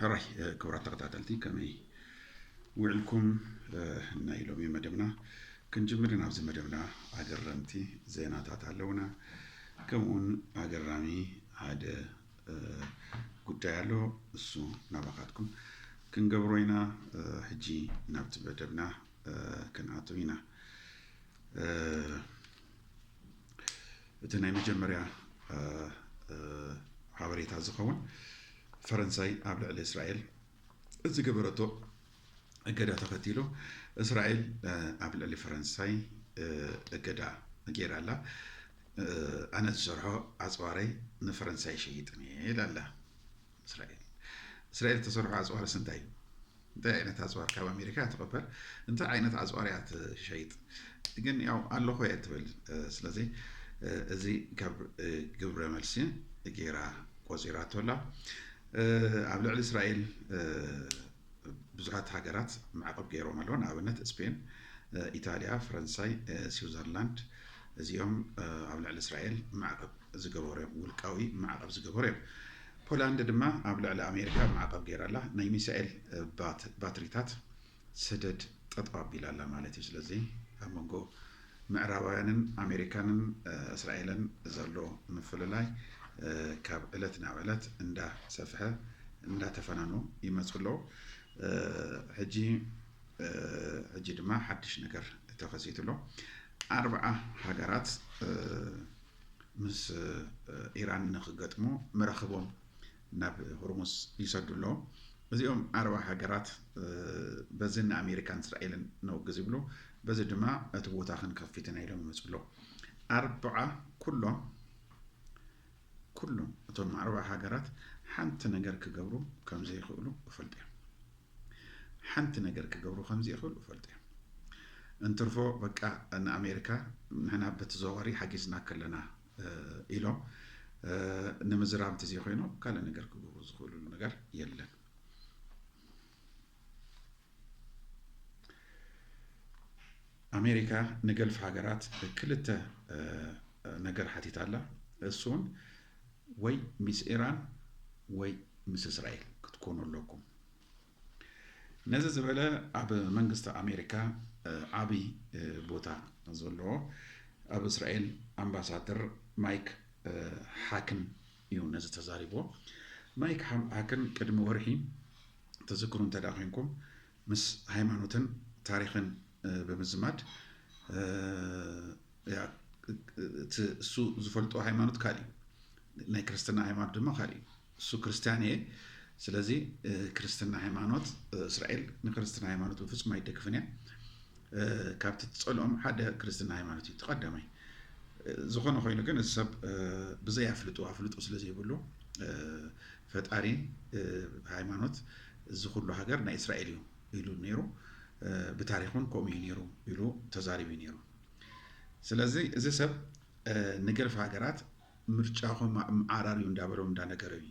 ሕራይ ክብራት ተኸታተልቲ ከመይ ውዕልኩም ናይ ሎሚ መደብና ክንጅምር ኢና ኣብዚ መደብና ኣገረምቲ ዜናታት ኣለውና ከምኡውን ኣገራሚ ሓደ ጉዳይ ኣሎ እሱ ናባኻትኩም ክንገብሮ ኢና ሕጂ ናብቲ መደብና ክንኣትው ኢና እቲ ናይ መጀመርያ ሓበሬታ ዝኸውን ፈረንሳይ ኣብ ልዕሊ እስራኤል ዝገበረቶ እገዳ ተኸቲሉ እስራኤል ኣብ ልዕሊ ፈረንሳይ እገዳ ገይራ ኣላ ኣነ ዝሰርሖ ኣፅዋረይ ንፈረንሳይ ሸይጥን እየ ኢላ ኣላ እስራኤል እስራኤል ተሰርሖ ኣጽዋር ስንታይ እዩ? እንታይ ዓይነት ኣጽዋር ካብ ኣሜሪካ ትቐበል? እንታይ ዓይነት ኣጽዋር እያ ትሸይጥ? ግን ያው ኣለኾ እየ ትብል። ስለዚ እዚ ካብ ግብረ መልሲ ጌራ ቆፂራቶ ኣላ። ኣብ ልዕሊ እስራኤል ብዙሓት ሃገራት ማዕቐብ ገይሮም ኣለዋ። ንኣብነት ስፔን፣ ኢጣልያ፣ ፈረንሳይ፣ ስዊዘርላንድ እዚኦም ኣብ ልዕሊ እስራኤል ማዕቐብ ዝገበሩ እዮም፣ ውልቃዊ ማዕቐብ ዝገበሩ እዮም። ፖላንድ ድማ ኣብ ልዕሊ ኣሜሪካ ማዕቐብ ገይራ ኣላ። ናይ ሚሳኤል ባትሪታት ሰደድ ጠጠው ኣቢላ ኣላ ማለት እዩ። ስለዚ ኣብ መንጎ ምዕራባውያንን ኣሜሪካንን እስራኤልን ዘሎ ምፍልላይ ካብ ዕለት ናብ ዕለት እንዳ ሰፍሐ እንዳ ተፈናኑ ይመጹ ኣለው። ሕጂ ሕጂ ድማ ሓድሽ ነገር ተኸሲቱ ኣሎ። ኣርብዓ ሃገራት ምስ ኢራን ንክገጥሙ መራኽቦም ናብ ሆርሙዝ ይሰዱ ኣለዉ። እዚኦም ዓረባዊ ሃገራት በዚ ንኣሜሪካን እስራኤልን ነውግዝ ይብሉ፣ በዚ ድማ እቲ ቦታ ክንከፍት ኢና ኢሎም ይመጹ ኣለዉ። ኣርብዓ ኩሎም ኩሎም እቶም ዓረባዊ ሃገራት ሓንቲ ነገር ክገብሩ ከም ዘይክእሉ እፈልጡ እዮም። ሓንቲ ነገር ክገብሩ ከም ዘይክእሉ እፈልጡ እዮም። እንትርፎ በቃ ንኣሜሪካ ንሕና በተዘዋዋሪ ሓጊዝና ከለና ኢሎም ንምዝራብ እንተዘይኮይኑ ካልእ ነገር ክገብሩ ዝኽእሉሉ ነገር የለን። ኣሜሪካ ንገልፍ ሃገራት ክልተ ነገር ሓቲት ኣላ። እሱን ወይ ምስ ኢራን ወይ ምስ እስራኤል ክትኮኑ ኣለኩም። ነዚ ዝበለ ኣብ መንግስቲ ኣሜሪካ ዓብይ ቦታ ዘለዎ ኣብ እስራኤል ኣምባሳደር ማይክ ሓክን እዩ ነዚ ተዛሪቦ። ማይክ ሓክን ቅድሚ ወርሒ ተዝክሩ እንተ ኮንኩም ምስ ሃይማኖትን ታሪክን ብምዝማድ እቲ እሱ ዝፈልጦ ሃይማኖት ካልእ እዩ፣ ናይ ክርስትና ሃይማኖት ድማ ካልእ እዩ። እሱ ክርስትያን እየ ስለዚ ክርስትና ሃይማኖት እስራኤል ንክርስትና ሃይማኖት ብፍፁም ኣይደግፍን እያ ካብቲ ትፀልኦም ሓደ ክርስትና ሃይማኖት እዩ ተቀዳማይ ዝኾነ ኮይኑ ግን እዚ ሰብ ብዘይ ኣፍልጡ ኣፍልጡ ስለዘይብሉ ፈጣሪ ሃይማኖት እዚ ኩሉ ሃገር ናይ እስራኤል እዩ ኢሉ ነይሩ ብታሪኹን ከምኡ እዩ ነይሩ ኢሉ ተዛሪቡ ነይሩ ስለዚ እዚ ሰብ ንገልፍ ሃገራት ምርጫኹም ኣምዓራር እዩ እንዳበሎም እንዳነገረ እዩ።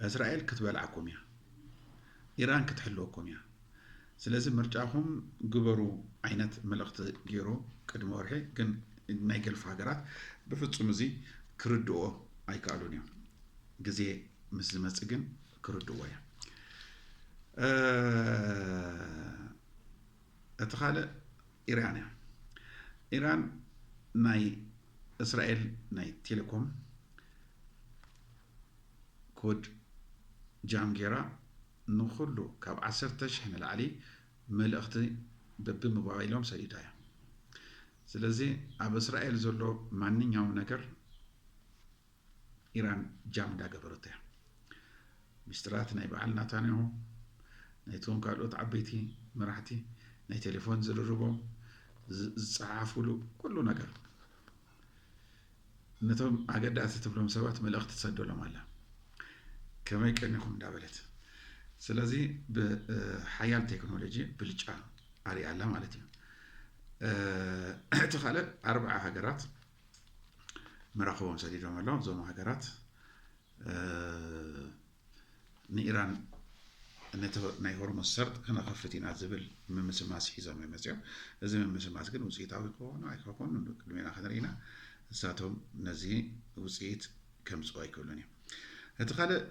እስራኤል ክትበልዓኩም እያ። ኢራን ክትሕልወኩም እያ። ስለዚ ምርጫኹም ግበሩ ዓይነት መልእኽቲ ገይሩ ቅድሚ ወርሒ ግን ናይ ገልፍ ሃገራት ብፍጹም እዚ ክርድኦ ኣይከኣሉን እዮም። ግዜ ምስ ዝመጽእ ግን ክርድዎ እዮም። እቲ ካልእ ኢራን እያ። ኢራን ናይ እስራኤል ናይ ቴሌኮም ኮድ ጃም ጌራ ንኹሉ ካብ ዓሰርተ ሽሕ ንላዕሊ መልእኽቲ በቢሞባይሎም ሰዲዳ እያ። ስለዚ ኣብ እስራኤል ዘሎ ማንኛውም ነገር ኢራን ጃም እንዳገበረቶ እያ። ሚስጥራት ናይ በዓል ናታንያሁ፣ ናይቶም ካልኦት ዓበይቲ መራሕቲ ናይ ቴሌፎን ዝርርቦም፣ ዝጸሓፉሉ ኩሉ ነገር ነቶም ኣገዳሲ ትብሎም ሰባት መልእኽቲ ትሰደሎም ኣላ ከመይ ቀኒኹም እንዳበለት ስለዚ ብሓያል ቴክኖሎጂ ብልጫ ኣሪኣላ ማለት እዩ እቲ ካልእ ኣርባዓ ሃገራት መራኽቦም ሰዲዶም ኣለው። እዞም ሃገራት ንኢራን ነቲ ናይ ሆርሙዝ ሰርጥ ከነኸፍት ኢና ዝብል ምምስማስ ሒዞም እዮም መፅኦም እዚ ምምስማስ ግን ውፅኢታዊ ክኾኑ ኣይከኮኑ ቅድሜና ክንርኢና ንሳቶም ነዚ ውፅኢት ከምፅኡ ኣይክብሉን እዮም እቲ ካልእ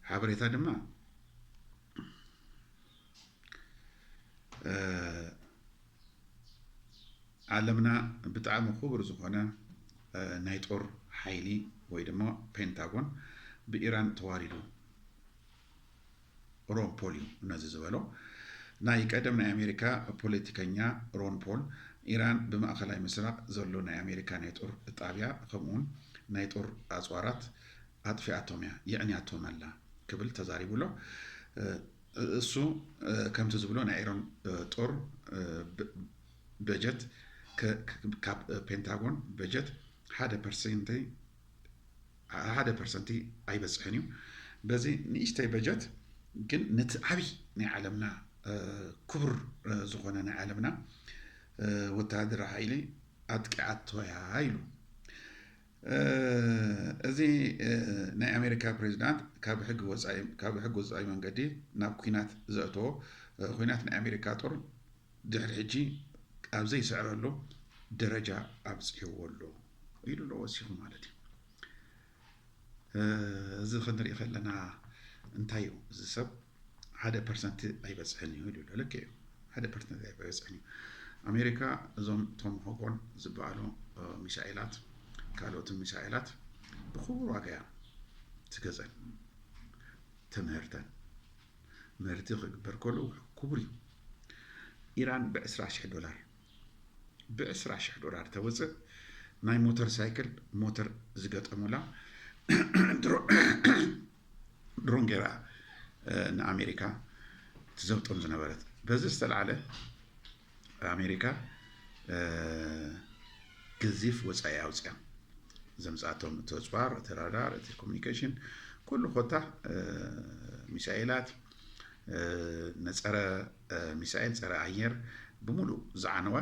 ሓበሬታ ድማ ዓለምና ብጣዕሚ ኩቡር ዝኾነ ናይ ጦር ሓይሊ ወይ ድማ ፔንታጎን ብኢራን ተዋሪዱ ሮን ፖል እዩ ነዚ ዝበሎ። ናይ ቀደም ናይ ኣሜሪካ ፖለቲከኛ ሮን ፖል ኢራን ብማእኸላይ ምስራቕ ዘሎ ናይ ኣሜሪካ ናይ ጦር ጣብያ ከምኡውን ናይ ጦር ኣፅዋራት ኣጥፊኣቶም እያ የዕንያቶም ኣላ ክብል ተዛሪቡ ኣሎ። እሱ ከምቲ ዝብሎ ናይ ኢሮን ጦር በጀት ካብ ፔንታጎን በጀት ሓደ ፐርሰንተይ ሓደ ፐርሰንቲ ኣይበፅሕን እዩ በዚ ንእሽተይ በጀት ግን ነቲ ዓብይ ናይ ዓለምና ክቡር ዝኾነ ናይ ዓለምና ወተሃደራዊ ሓይሊ ኣጥቂዓቶ እያ ኢሉ እዚ ናይ ኣሜሪካ ፕሬዚዳንት ካብ ሕጊ ወፃኢ መንገዲ ናብ ኩናት ዘእተዎ ኩናት ናይ ኣሜሪካ ጦር ድሕሪ ሕጂ ኣብ ዘይስዕረሉ ደረጃ ኣብፅሕዎ ኣሎ ኢሉ ኣሎ ወሲኹ ማለት እዩ። እዚ ክንርኢ ከለና እንታይ እዩ እዚ ሰብ ሓደ ፐርሰንት ኣይበፅሕን እዩ ኢሉ ልክ እዩ ሓደ ፐርሰንት ኣይበፅሕን እዩ ኣሜሪካ እዞም ቶም ሆጎን ዝበሃሉ ሚሳኤላት ካልኦትን ሚሳኤላት ብክቡር ዋጋ እያ ትገዘን ተምህርተን ምህርቲ ክግበር ከሉ ክቡር እዩ ኢራን ብ20 ዶላር ብ ዕስራ ሽሕ ዶላር ተውጽእ ናይ ሞተር ሳይክል ሞተር ዝገጠሙላ ድሮን ገይራ ንኣሜሪካ ትዘብጦም ዝነበረት። በዚ ዝተልዓለ ኣሜሪካ ገዚፍ ወጻኢ ኣውጽያ። ዘምጻቶም እቲ ኣጽዋር እቲ ራዳር እቲ ኮሚኒኬሽን ኩሉ ኮታ ሚሳኤላት ነፀረ ሚሳኤል ፀረ ኣየር ብሙሉእ ዝዓነወ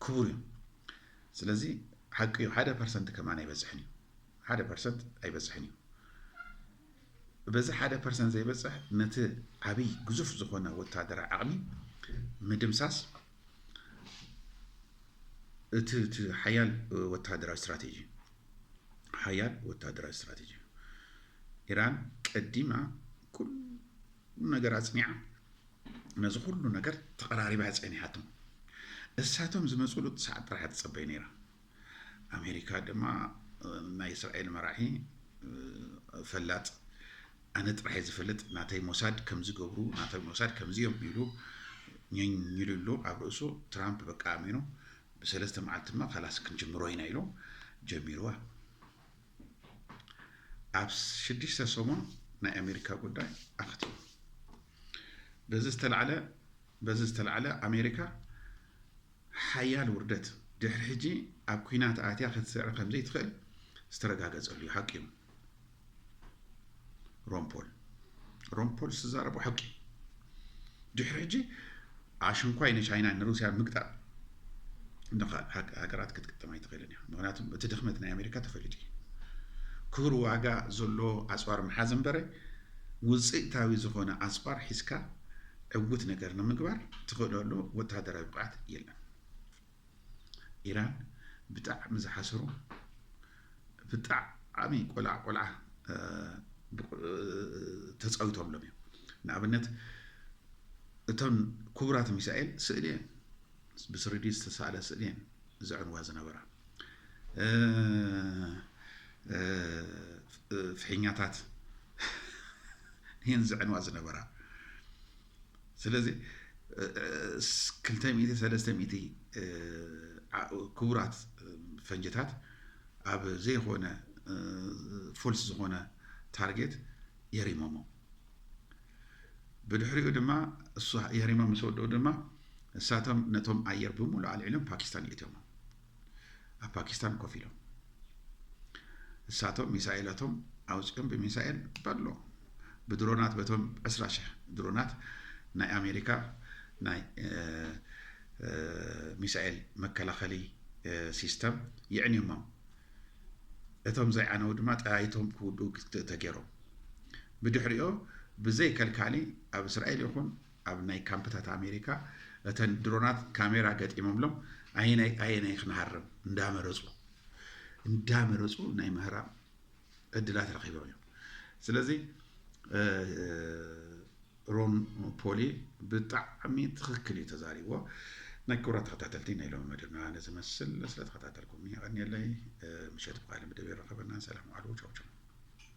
ክቡር እዩ ስለዚ ሓቂ እዩ ሓደ ፐርሰንት ከማን ኣይበፅሕን እዩ ሓደ ፐርሰንት ኣይበፅሕን እዩ በዚ ሓደ ፐርሰንት ዘይበፅሕ ነቲ ዓብይ ግዙፍ ዝኾነ ወታደራዊ ዓቕሚ ምድምሳስ እቲ እቲ ሓያል ወተሃደራዊ ስትራቴጂ እዩ። ሓያል ወተሃደራዊ ስትራቴጂ እዩ። ኢራን ቀዲማ ኩሉ ነገር ኣጽኒዓ ነዚ ኩሉ ነገር ተቐራሪባ ጸኒሓቶም እሳቶም ዝመጽሉ ሰዓት ጥራሕ ትጸበይ ነይራ ኣሜሪካ ድማ ናይ እስራኤል መራሒ ፈላጥ ኣነ ጥራሕየ ዝፈልጥ ናተይ ሞሳድ ከምዚ ገብሩ ናተይ ሞሳድ ከምዚ እዮም ኢሉ ኘኝ ኢሉ ኣሎ ኣብ ርእሱ ትራምፕ በቃ ኣሚኑ ብሰለስተ መዓልትማ ካላስ ክንጅምሮ ኢና ኢሉ ጀሚርዋ ኣብ ሽዱሽተ ሰሙን ናይ ኣሜሪካ ጉዳይ ኣኽቲሙ በዚ ዝተላዕለ በዚ ዝተላዕለ ኣሜሪካ ሓያል ውርደት ድሕሪ ሕጂ ኣብ ኩናት ኣትያ ክትስዕር ከምዘይትኽእል ዝተረጋገጸሉ እዩ ሓቂ እዩ ሮምፖል ሮምፖል ዝዛረቦ ሓቂ እዩ ድሕሪ ሕጂ ኣሽንኳይ ንቻይና ንሩስያ ምግጣም ሃገራት ክትግጠም ኣይትኽእልን እያ ምክንያቱ እቲ ድኽመት ናይ ኣሜሪካ ተፈሊጡ እዩ ክቡር ዋጋ ዘሎ ኣፅዋር ምሓዝ እምበረ ውፅኢታዊ ዝኾነ ኣፅዋር ሒዝካ ዕውት ነገር ንምግባር ትኽእለሉ ወተሃደራዊ ብቕዓት የለን። ኢራን ብጣዕሚ ዝሓሰሩ ብጣዕሚ ቆልዓ ቆልዓ ተፃዊቶምሎም እዮም። ንኣብነት እተን ክቡራት ሚሳኤል ስእሊ እየን ብስሪዲ ዝተሳእለ ስእሊ እየን ዘዕንዋ ዝነበራ ፍሒኛታት እየን ዝዕንዋ ዝነበራ ስለዚ ክልተ ሚእቲ ሰለስተ ሚእቲ ክቡራት ፈንጅታት ኣብ ዘይኮነ ፎልስ ዝኾነ ታርጌት የሪሞሞ ብድሕሪኡ ድማ እሱ የህሪማ ምስ ወድኡ ድማ እሳቶም ነቶም ኣየር ብምሉእ ኣልዒሎም ፓኪስታን ይእትዮም ኣብ ፓኪስታን ኮፍ ኢሎም እሳቶም ሚሳኤላቶም ኣውፅኦም ብሚሳኤል በሎ ብድሮናት በቶም ዕስራ ሽሕ ድሮናት ናይ ኣሜሪካ ናይ ሚሳኤል መከላኸሊ ሲስተም የዕንዮሞም እቶም ዘይዓነዉ ድማ ጠያይቶም ክውድኡ ክትእ ተገይሮም። ብድሕሪኦ ብዘይ ከልካሊ ኣብ እስራኤል ይኹን ኣብ ናይ ካምፕታት ኣሜሪካ እተን ድሮናት ካሜራ ገጢሞምሎም ኣየናይ ኣየናይ ክንሃርም እንዳመረፁ እንዳመረፁ ናይ ምህራም ዕድላት ረኺቦም እዮም። ስለዚ ሮን ፖሊ ብጣዕሚ ትኽክል እዩ ተዛሪብዎ። ናይ ክብራት ተኸታተልቲ ናይ ሎሚ መደብና ነዚ መስል ስለተኸታተልኩምኒ የቐንየለይ። ምሸት ብቃለ መደብ የራኸበና። ሰላም ዋዕሉ። ቻው ቻው።